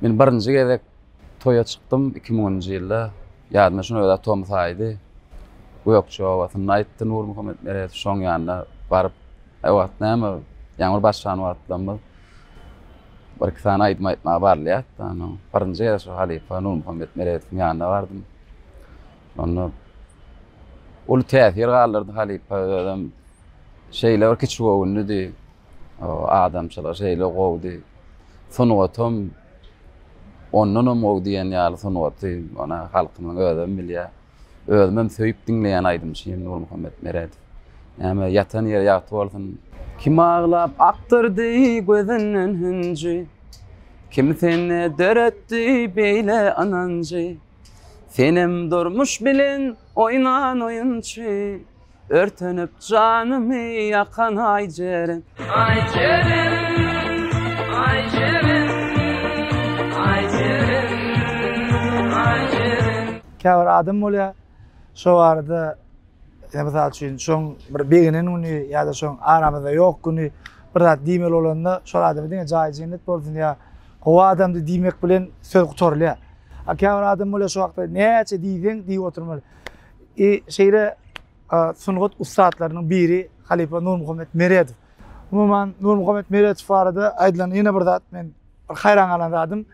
Men birinji gezek toýa çykdym iki müňünji ýylda. Ýadyma şuny özä tomus aýdy. Gökje obasynda aýtdy Nurmuhammet Meredow şoň ýanyna baryp. Ä wagt näme, ýaňyr başlan wagtlarymyz. Bir-iki sany aýdym aýtmaga barylýardy da, ondan birinji gezek şo halypa Nurmuhammet Meredowyň ýanyna bardym. Onda uly täsir galdyrdy halypa özem. Şeýle bir kiçi göwünlidi. Adamçylyk şeýle gowdy. Sungatam ondanam gowy diýen ýaly sungaty, ony halkymyzyň özem bilýär. Özümem söýüp diňleýän aýdymçym Nurmuhammet Meredow. Näme, ýatan ýeri ýagty bolsun. Kim aglap akdyrdy gözünden hünji, Kim sende döretdi beýle ynanjy, Senem durmuş bilen oýnan oýunçy. Örtenip janymy ýakan aý jeren. Aý jeren, aý jeren, aý jeren, aý jeren. Käbir adam bolýar, şo barada ýa mysal üçin şoň bir begenen güni ýa-da şoň aramyzda ýok güni bir zat diýmeli bolanda şol adama diňe jaýy jennet bolsun ýa gowy adamdy diýmek bilen söz gutarylýar. A käbir adam bolýar şo wagtda näçe diýseň diýip oturmaly. I şeýle sungat ussatlarynyň biri halypa Nurmuhammet Meredow. Umuman Nurmuhammet Meredow barada aýdylan ýene bir zat men bir haýran galan zadym.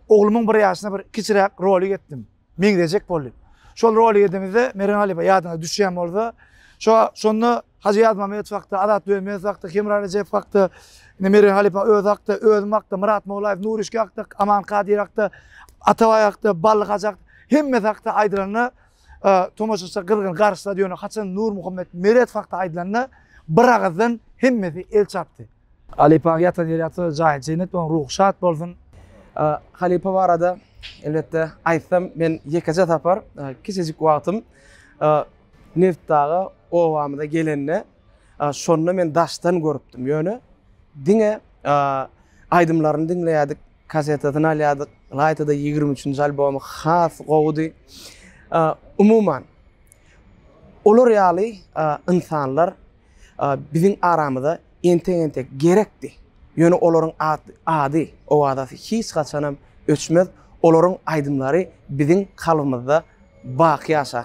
Oglumyň bir ýaşyna bir kiçiräk rolik etdim. Meňzejek boldy. Şol rolik edemizde Mergen halypa ýadyňyza düşýän bolsa, şo şonda Hajy Ýazmamadow hakda, Azat Dönmezow hakda, Hemra Rejepow hakda, indi Mergen halypa özi hakda, özüm hakda, Myrat Mollaýew, Nurişge hakda, Aman Kadyr hakda, Atabaý hakda, Bally hajy hakda, hemmesi hakda aýdylanda, e, tomaşaçylar gyzgyn garyşsa diýýän, haçan Nurmuhammet Meredow hakda aýdylanda, bir agyzdan hemmesi el çarpdy. Halypa ýatan ýeri ýatsa, jaýy jennet bolan, ruhy şat bolsun. E, halypa barada elbetde aýtsam, men ýekeje sapar, e, kiçijik wagtym, e, Neft dagy obamyza gelende şonda men daşdan görüpdim ýöne diňe aýdymlaryny diňleýädik kasetasyny alýadyk ylaýtada ýigrimi üçünji albomy has gowudy umuman olar ýaly ynsanlar biziň aramyza entek entek gerekdi ýöne olaryň ady owazasy hiç haçanam öçmez olaryň aýdymlary biziň kalbymyzda baky ýaşar.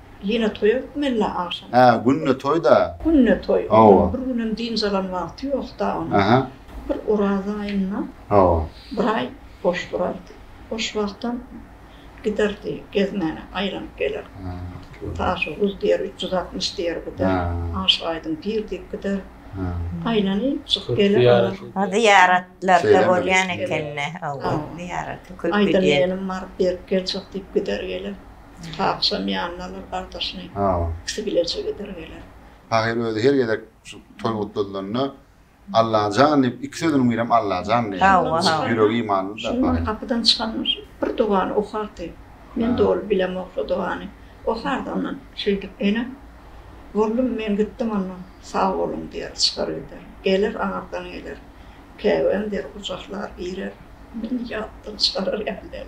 Ýene toý hökmänle agşam. Hä, günde toý-da. Günde toý. Hawa. Bir günem dynç alan wagty ýok-da onuň. Aha. Bir Oraz aýynda. Hawa. Bir aý boş durardy. Boş wagtam giderdi gezmäne, aýlanyp geler. Hä. Taşy guz diýer, üç ýüz altmyş diýer bu da. Hä. Aşyk Aýdyň pir diýip gider. Hä. Aýlanyp çykyp geler. Ýa zyýaratlarda bolýan ekeni. Hawa, zyýarata köp gidýän. Aýdym gelim bar, berip geljek diýip gider geler. Pahyşam ýanyna alar gardaşyny. Ikisi bileje gider geler. Pahyr özi her gezek şu toý gutladylanda Allajan diýip iki sözüniň birem Allajan diýýär. Ýüregi imanly-da. Şondan gapydan çykanda bir dogany okardy. Men doly bilemok şo dogany. Okardy ondan şeýdip Ene, Bollum men gitdim onda sag boluň diýer çykar gider. Geler aňyrdan geler. Käbäm der gujaklar girer. Meni ýatdan çykarar ýaly däl.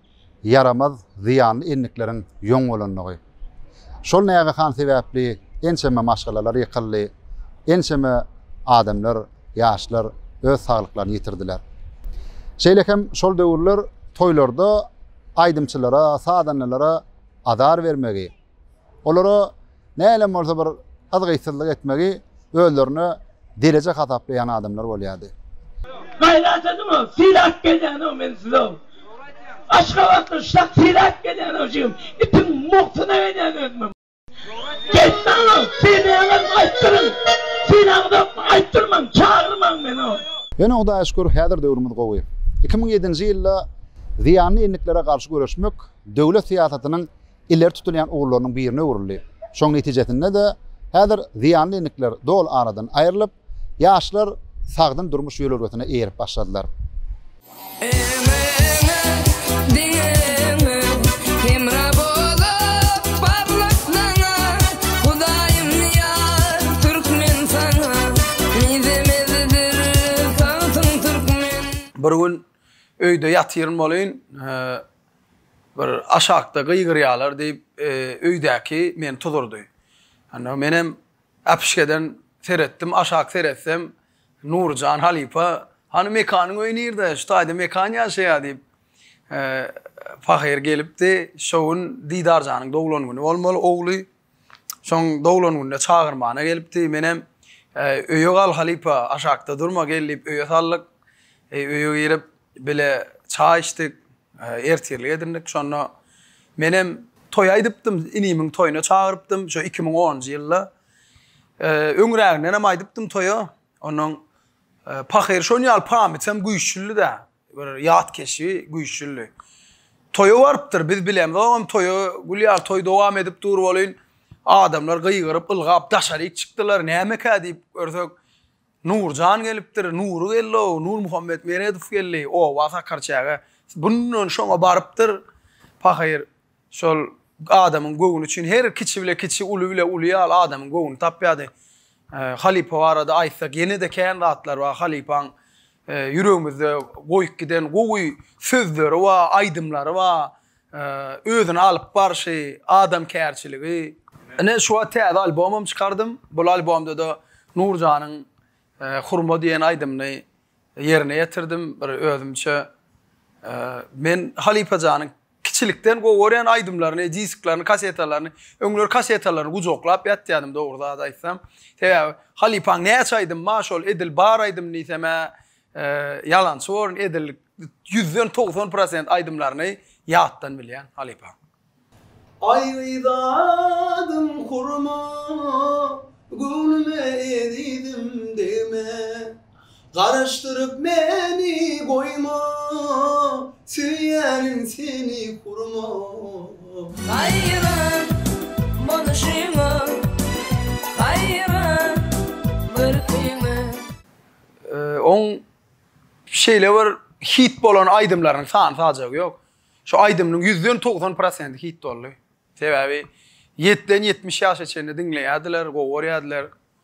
ýaramaz, zyýanly endikleriň ýoň bolandygy. Şol nägehan sebäpli ençeme maşgalalar ýykyldy, ençeme adamlar, ýaşlar öz saglyklaryny ýitirdiler. Şeýle hem şol döwürler toýlarda aýdymçylara, sazandalara azar bermegi, Olara näleem bolsa bir yzgytsyzlyk etmegi özlerine dereje hasaplaýan adamlar bolýardy. Gaýrat ediňow, syrat gelýänow men size-ow. Aşgabatdan şak syrat gelýänow jigim. Itiň mugtyna gelýän özümem. Geýtmäňow, synlaýaňyzmy aýtdyryň. Synlaňyzokmy aýtdyrmaň, çagyrmaň meni-ow. Ýöne Hudaýa şükür häzir döwrümiz gowy. Iki müň ýedinji ýylda zyýanly endiklere garşy göreşmek döwlet syýasatynyň ileri tutulýan ugurlarynyň birine öwrüldi. Şonuň netijesinde-de, häzir zyýanly endikler doly aradan aýrylyp, ýaşlar sagdyn durmuş ýörelgesine eýerip başladylar. Bir gün öýde ýatyryn bolyn, Bir aşakda gygyrýalar diýip öýdäki meni tuzurdy. Onda menem äpişgeden seretdim, aşak seretsem Nuryjan halypa Hany Mekanyň öýi nirde, şu taýda Mekan ýaşaýa diýip pahyr gelipdi. Şo gün Didarjanyň doglan güni bolmaly, ogly Soň doglan günde çagyrmana gelipdi. Menem, Öýe gal, halypa, aşakda durma, gel diýip, öýe saldyk. Öýe girip, bile çaý içdik. Ertirlik edindik. Şonda menem toý aýdypdym. Inimiň toýuna çagyrypdym. Şo iki müň onunjy ýylda. Öňräginden hem aýdypdym toýa. Onnoň pahyr şonýaly pamyt hem güýçlüdi-dä. Göreli ýat keşbi güýçlüdi. Toýa barypdyr, biz bilemzogam toýa, gül ýaly toý dowam edip dur welin, adamlar gygyryp, ylgap daşaryk çykdylar, nämekä diýip görsek, Nurjan gelipdir, Nury geldi-ow, Nurmuhammet Meredow geldi, oba sakar çäge, bundan şoňa barypdyr, pahyr, Şol adamyň göwni üçin her kiçi bile kiçi, uly bile uly ýaly adamyň göwnüni tapýardy. Halypa barada aýtsak, ýene-de kän zatlar bar. Halypaň ýüregimizde goýup giden gowy sözleri bar, aýdymlary bar, özüni alyp barşy, adamkärçiligi. Ine, şu wagt täze albomam çykardym. Bul albomda-da Nurjanyň Hurma diýen aýdymyny ýerine ýetirdim. Bir özümçe men halypa janyň Kiçilikden gowy görýän aýdymlaryny, disklaryny, kasetalaryny, öňler kasetalaryny gujaklap ýatýardym dogry zat aýtsam. Sebäbi halypaň näçe aýdym bar şol edil bar aýdym diýsem-ä ýalançy borun edil ýüzden togsan prosent aýdymlaryny ýatdan bilýän halypaň. Aýry zadym hurma, göwnüme ezizim degme. Garaşdyryp meni goýma, Söýýärin seni hurma. Haýran boluşyňa, haýran görküňe. Oň şeýle bir hit bolan aýdymlarynyň sany-sajagy ýok. Şu aýdymynyň ýüzden togsan prosenti hit boldy. Sebäbi ýetden ýetmiş ýaşa çenli diňleýärdiler, gowy görýärdiler.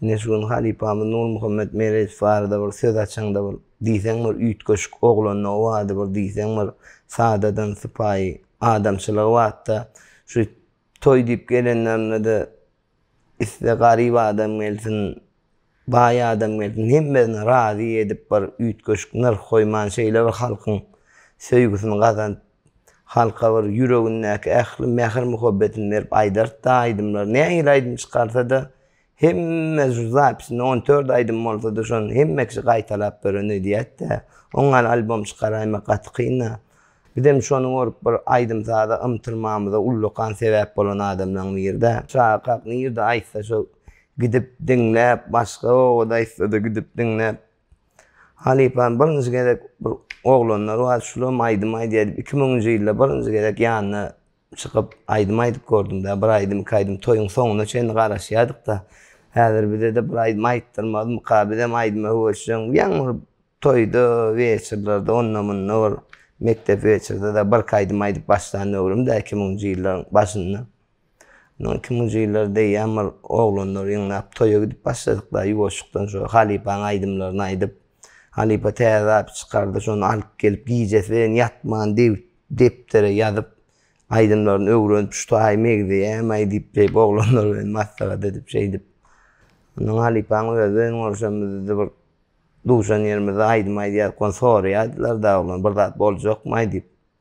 Ine şu gün halypamyz Nurmuhammet Merejow barada bir söz açaňda bir diýseň bir üýtgeşik oglandy o wagtda bir diýseň bir sadadan sypaýy adamçylygy batda şu toý diýip gelenlerinde-de iste garyp adam gelsin baý adam gelsin hemmesini razy edip bir üýtgeşik nyrh goýman şeýle bir halkyň söýgüsini gazanyp Halka bir ýüregindäki ähli mähir-muhabbetini berip aýdartdy aýdymlary. Nähili aýdym çykarsa-da, hemme şu zapisinde on dört aýdym bolsa-da, şony hemme kişi gaýtalap gören öýdýät-dä. Oň ýaly albom çykaraýmak gaty kyn-a. Bizem şony görüp bir aýdym-saza ymtylmamyza ullakan sebäp bolan adamlaryň biri-dä. Şaha-kak nirde aýtsa şo gidip diňläp, başga obada aýtsa-da gidip diňläp, Halypam birinji gezek bir oglanlar bar, şulam aýdym aýdýar diýip, iki müňünji ýylda birinji gezek ýanyna çykyp, aýdym aýdyp gördüm-dä. Bir aýdym, iki aýdym toýuň soňuna çenli garaşýardyk-da. Häzir bize-de bir aýdym aýtdyrmazmyka, bizem aýdyma höwesjeň. Ýaňy bir toýda, weçerlerde, onda-munda bir mekdep weçerde-de birki aýdym aýdyp başlan döwrüm-dä, iki müňünji ýyllaryň başynda. Munuň iki muzylary degýän bir oglanlar ýygnap toýa gidip başladyklar ýuwaşjykdan şo halypaň aýdymlaryny aýdyp. Halypa täze zat çykardy şony alyp gelip gijesileýin ýatman dewüt depdere ýazyp aýdymlaryny öwrenip şu taýy megzeýämaý diýip şeýip oglanlar bilen maslahat edip şeýdip. Ondan halypaň özi bilen görşemizde bir duşan ýerimizde aýdym aýdýarka ony soraýardylar dagy oglany bir zat boljakmaý diýip.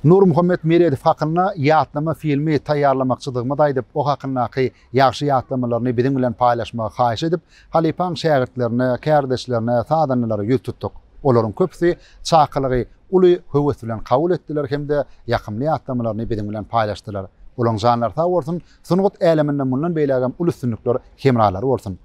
Nurmuhammet Meredow hakynda ýatlama filmi taýýarlamakçydygymy-da aýdyp, o hakyndaky ýagşy ýatlamalaryny biziň bilen paýlaşmagy haýyş edip, halypaň şägirtlerine, kärdeşlerine, sazandalara ýüz tutduk. Olaryň köpüsi çakylygy uly höwes bilen kabul etdiler hem-de ýakymly ýatlamalaryny biziň bilen paýlaşdylar. Olaň janlary sag bolsun, sungat äleminde mundan beýlägem uly üstünlikler hemralary bolsun!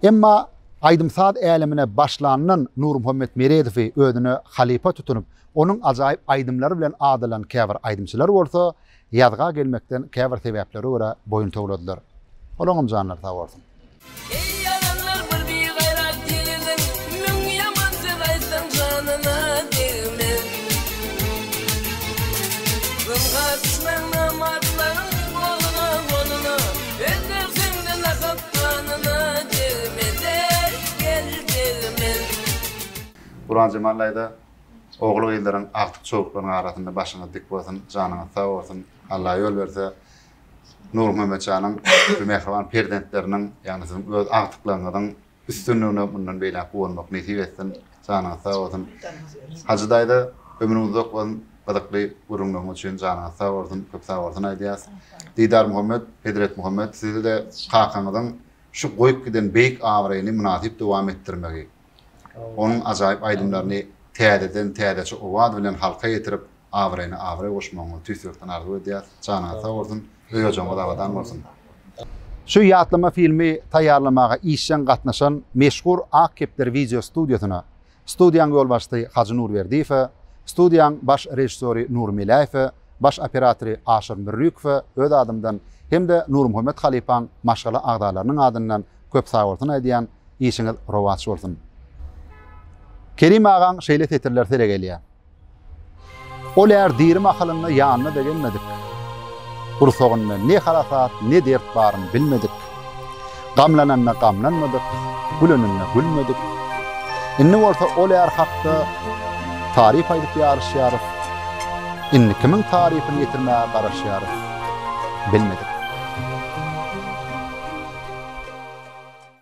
Emma aýdym-saz älemine başlandan Nurmuhammet Meredowy özüne halypa tutunyp, onuň ajaýyp aýdymlary bilen adalan käbir aýdymçylar bolsa, ýazga gelmekden käbir sebäplere görä boýun towladylar. Olaňam janlary sag bolsun. Eý, adamlar bir bigaýrat ýigidin müň ýaman söz aýtsaň janyna degmez. Zyňka düşmäň namartlaryň goluny-goluna. Guranjemal daýza ogul gyzlaryň agtyk çowuklaryň arasynda başyňyz dik bolsun janyňyz sag bolsun Alla ýol berse Nurmuhammetjanyň şu mähriban perzentleriniň ýagny siziň öz agtyklaryňyzyň Üstünligine mundan beýläk guwanmak nesip etsin. Janyňyz sag bolsun. Hajy daýza ömrüňiz uzak bolsun. Gyzykly gürrüňleriňiz üçin janyňyz sag bolsun. Köp sag bolsun aýdýas. Didar Muhammet, Hezret Muhammet sizi-de kakaňyzyň şu goýup giden beýik abraýyny mynasyp dowam etdirmegi, onuň ajaýyp aýdymlaryny täzeden täzeçe owaz bilen halka ýetirip, abraýyna abraý goşmagyňyzy tüýs ýürekden arzuw edýäs. Janyňyz sag bolsun, öý-ojagyňyz abadan bolsun! Şu ýatlama filmi taýýarlamaga işjeň gatnaşan meşhur Ak kepder wideo studiýasyna, studiýaň ýolbaşçysy Hajy Nurberdiýewe, studiýaň baş režissýory Nury Meläýewe, baş operatory Aşyr Mürrikowe öz adymdan hem-de Nurmuhammet halypaň maşgala agzalarynyň adyndan köp sagbolsun aýdýan, işiňiz rowaç bolsun! Kerim agaň şeýle setirleri sele gelýär. Ol är diri mahalynda ýanyna begenmedik. Gursagynda ne harasat, ne dert baryny bilmedik. Gamlananda gamlanmadyk, güleninde gülmedik. Indi bolsa ol är hakda taryp aýdyp ýaryşýarys. Indi kimiň tarypyny ýetirmäge garaşýarys, bilmedik.